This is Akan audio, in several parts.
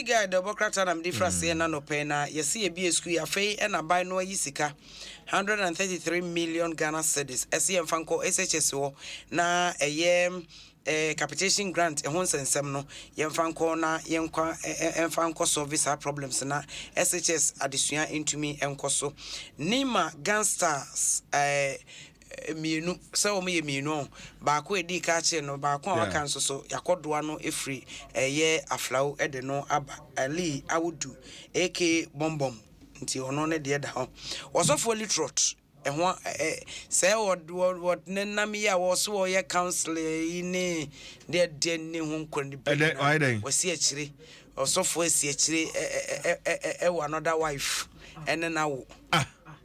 Yɛsii guy dɛ ɔbɔkrata na mede fira seɛ na nɔpɛ na yɛse yɛbie school yi afei na aban no ayi sika 133 million Ghana cedis ɛse yɛmfa nkɔ SHS hɔ na ɛyɛ eh, capitation grant ɛho nsɛnsɛm no yɛmfa nkɔ na yɛnkwa ɛmfa nkɔ solve saa problems na SHS adesua ntumi nkɔ so Nima Gangstar's eh, mmienu sɛ wɔn yɛ mmienu ɔn baako a ɛdi kan akyerɛ no baako a waka nso so yakɔdoa no ɛfiri ɛyɛ aflawo ɛde no aba ali awudu ak bɔmbɔm nti ɔno ne deɛ da hɔ wɔsɔfoɔ litrot ɛho ɛ sɛ wɔne nam yi a wɔso wɔyɛ council yi ne deɛ deɛ ne ho nkɔ ne bi wɔsi akyire ɔsɔfoɔ asi akyire ɛwɔ another wife ɛne no awo ah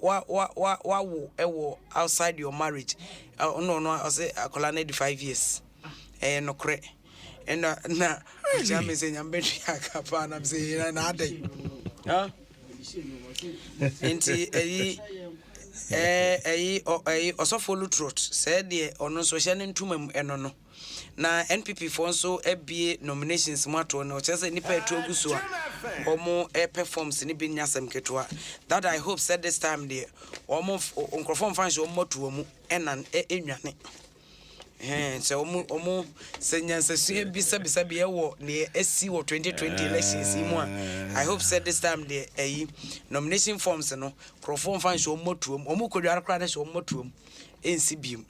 wa wa wa wawo ɛwɔ outside your marriage ɔno ɔno ɔsɛ akwadaa no di five years ɛyɛ nokorɛ ɛna na ɔkyerɛ mi sɛ nyame bɛhwɛ aka paa nam sɛ yɛn na adɛ nti ɛyi ɛyi ɛyi ɔsɔfo lutrot sɛ deɛ ɔno nso hyɛ ne ntoma mu ɛno no. Na NPP foɔ nso abue nominations mu atoɔ no ɔkyerɛ sɛ nnipa ɛtu agu so a wɔn ɛpɛ forms no bi nyɛ asɛm ketewa that I hope sɛ this time deɛ wɔn nkurɔfoɔ mfa nhyɛ wɔn mɔtoɔ mu ɛnan ɛnwane hɛn sɛ wɔn wɔn sɛ nyansasua bi sɛbisa bi ɛwɔ deɛ ɛsi wɔ 2020 elections yi mu a I hope sɛ this time deɛ ɛyi nomination forms no nkurɔfoɔ mfa nhyɛ wɔn mɔtoɔ mu wɔn kɔdware koraa no hyɛ wɔn mɔtoɔ mu nsi biom.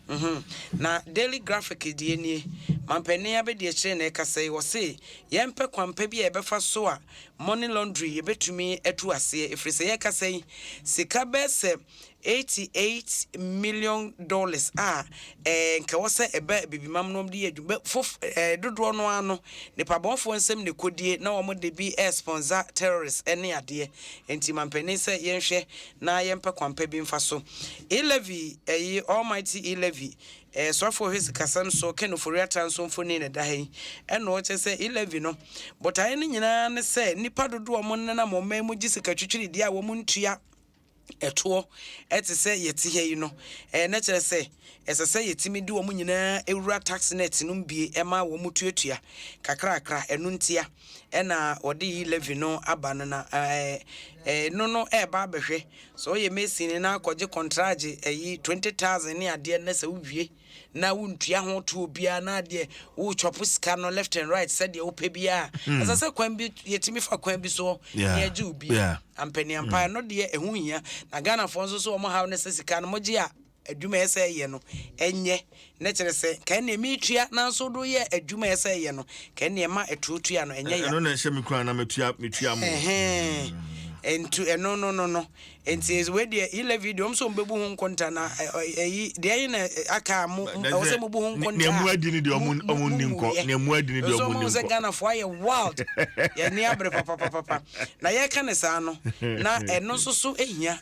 Mhu. Na Daily Graphic deɛ nie, Manpanin abɛdiakyire na ɛkasa yi, wɔse yɛmpɛ kwanpa bi a yɛbɛfa so a money laundering yɛbɛtumi atu aseɛ ɛfiri sɛ yɛkasa yi sika bɛɛ sɛ 88 million dollars a ɛɛ nka wɔ sɛ ɛba abibimam no wɔn de yɛ adwuma bɛ fof ɛɛ dodoɔ no ara no nipabɔnfoɔ nsɛm na ɛkɔdie na wɔn de bi ɛɛ sponsor terrorists ɛne adeɛ nti manpanin sɛ yɛnhwɛ na yɛmpɛ kwanpa bi mfa so. E. Levy, ɛyi, Almighty E. Levy, ɛyɛ soafo ɔhwɛ sikasɛm so, Ken Ofori-Atta nso mfoni na ɛda ha yi. Ɛnna ɔkyerɛ sɛ E. Levy no botaeɛ no nyinaa ne sɛ nnipa dodoɔ a wɔnenam ɔman mu gye sikatwitwiridie a wɔntua toɔ te sɛ yɛte ha yi no, na kyerɛ sɛ ɛsɛ sɛ yɛtumi de wɔn nyinaa wura tax net no mu bie ma wɔtuatua kakrakra, ɛno ntia. ɛna ɔde yi levy no aba no na ɛɛ ɛɛ no no ɛɛba abɛhwɛ sɛ ɔyɛ mason no na akɔgye kɔntragye ɛyi twenty thousand ne adeɛ na sɛ wowie na wontua ho to obiara na adeɛ wotwɔpo sika no left and right sɛdeɛ wopɛ biara hmm. ɛsɛ sɛ kwan bi yɛtumi fa kwan bi soɔ ne agye obi ampaniampa hmm. ɛno deɛ ɛho hia na ghanafoɔ nso so wɔn haw no sɛ sika no mogye a adwuma a ɛsɛ sɛ ɛyɛ no, ɛnyɛ, na ɛkyerɛ sɛ, nka ɛnneɛ meretua nanso wode woyɛɛ adwuma a ɛsɛ sɛ ɛyɛ no, nka ɛnneɛ ma ɛtoɔ tua no, ɛnyɛ ya. Ɛno na ɛhyɛ me kura na metua metua mo. Ɛhɛn, nti ɛno no no no, nti wei deɛ Hilevi deɛ wɔn nso wɔbɛbu ho nkonta na ɛyi deɛ ɛyi na aka a mo ɛwɔ sɛ mobu ho nkonta a mo adi ne deɛ wɔn wɔn nni nkɔ, deɛ mo adi ne deɛ wɔn nni nkɔ. Nso wɔn sɛ Ghanafoɔ ayɛ wild, yɛn ani abere papapapapa, na yɛka ne saa no, na ɛno nso so hia.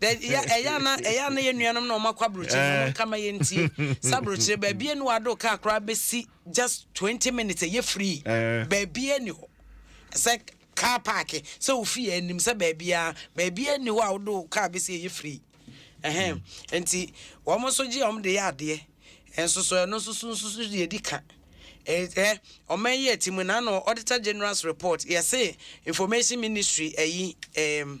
ɛyɛ ana ɛyɛ ana yɛ nuanom na wɔn akɔ aburokyire na wɔn nka ma yɛn tie sɛ aburokyire baabi enu ado kaa koraa bɛsi just twenty minutes ɛyɛ free baabi ɛni hɔ sɛ car park sɛ ofi yɛ anim sɛ baabi a baabi ɛni hɔ a wodo car bɛsi ɛyɛ free ɛhɛn nti wɔn nso gye wɔn de yɛ adeɛ nso so ɛno nso so nso so deɛ di ka. ɛɛ ɔman yi ɛti mu na na auditor general's report yɛse information ministry ɛyi ɛɛm.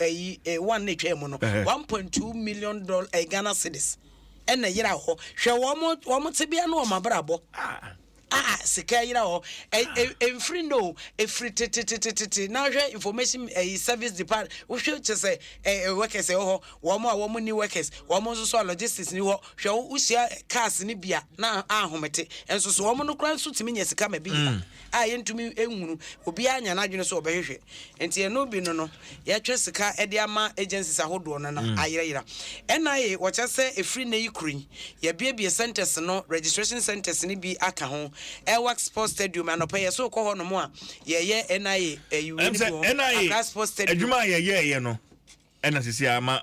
ayi eh, one na etwa mu no Ɛhɛ. one point two million doll eh, Ghana cedis ɛna yera hɔ hwɛ wɔn wɔn tebea ne wɔn abrabɔ Ah, a sika yera hɔ ɛ ɛ ɛnfiri nnɛ o ɛfiri tetetetetete na hwɛ information eh, service depart wohwɛ kyɛ sɛ eh, eh, workers ɛwɔ hɔ wɔn a wɔn ni workers wɔn nso so a logistics ni hɔ hwɛ wo wohyia cars ne bia na ahomete nso so wɔn no koraa nso tumi nya sika ma bi yera. a yɛntumi nhunu, obiara nya n'adwene sɛ ɔbɛhwehwɛ. Nti ɛno bi no no, yɛtwe sika de ama agencies ahodoɔ no na mm. ayerayera. NIA wɔkyɛ sɛ ɛfiri nnɛ yi koro yi, yɛabiebie centers no, registration centers no bi aka ho. Airwax Sports Stadium, anɔpa yɛ so kɔ hɔ nom a, yɛyɛ NIA ayiwie eh, no bi hɔ. Accra Sports Stadium. Adwuma a yɛyɛɛyɛ no, ɛna sisi ama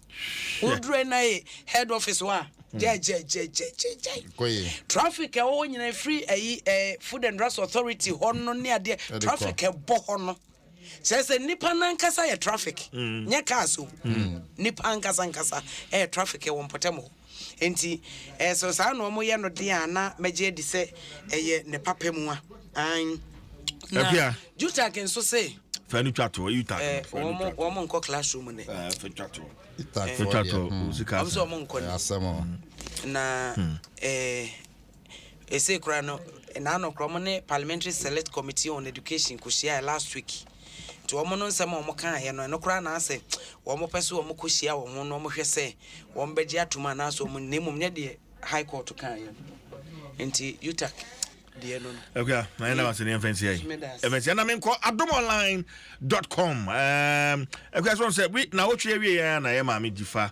Hwɛ. Wodurɛ na ye head office hɔ a, gyɛgyɛgyɛgyɛgyɛgyɛe. Kɔ ye. Traffic a ɛwɔ hɔ nyinaa ɛfiri ayi eh, Food and Drugs Authority hɔ no ne adeɛ, Ɛde kɔ. traffic a ɛbɔ hɔ no. Kyerɛ sɛ nnipa no ankasa yɛ traffic, nyɛ cars o. Nnipa ankasa ankasa ɛyɛ traffic wɔ mpɔtam hɔ. Enti, ɛɛ, sɛ saa na wɔyɛ no de a, na mɛgye adi sɛ ɛyɛ ne papa mu a. Aane. Na Jutak nso se. Fa no twa toɔ, Jutak. Ɛɛ, wɔn, wɔn nkɔ classroom nnɛ. Ɛɛ, fa twa toɔ. Jutak fɔ deɛ, hmm, wɔn sɛ wɔn nkɔ nnɛ. Asɛm o. Na, hmm. ɛɛ. Ɛsei koraa no, nnaano koraa wɔne Parliamentary Select Committee on Education kɔhyiaeɛ last week. Nti wɔn no nsɛm a wɔkaeɛ no, ɛno koraa na asɛ wɔpɛ sɛ wɔkɔhyia wɔn ho na wɔhwɛ sɛ wɔbɛgye atom anaasɛ wɔn na mmom nyɛ deɛ High Court kaeɛ no. Nti UTAC deɛ no no. Akua, na yɛn nam ase ne yɛmfa nsia yi. Ɛmɛ nsia na menkɔ adomonline.com. Akua sɛ wɔn sɛ na wotwe awie yɛn na yɛ maame gyifa.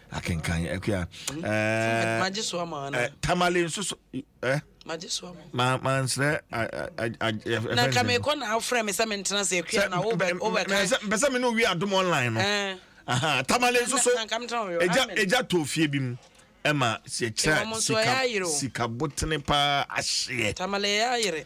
akenkan ɛkua eh, hmm. eh, magye so ama ana eh, tamale nso so eh magye so ama ma ma nsrɛ na nka mekɔ na afrɛ me sɛ mentena sɛ akua na wobɛka mpɛsɛ me ne owie adom online no tamale nso so ɛgya tɔ fie bi mu ɛma sɛ kyerɛ sika sikabotene paa ahyeɛ tamale yɛ ayere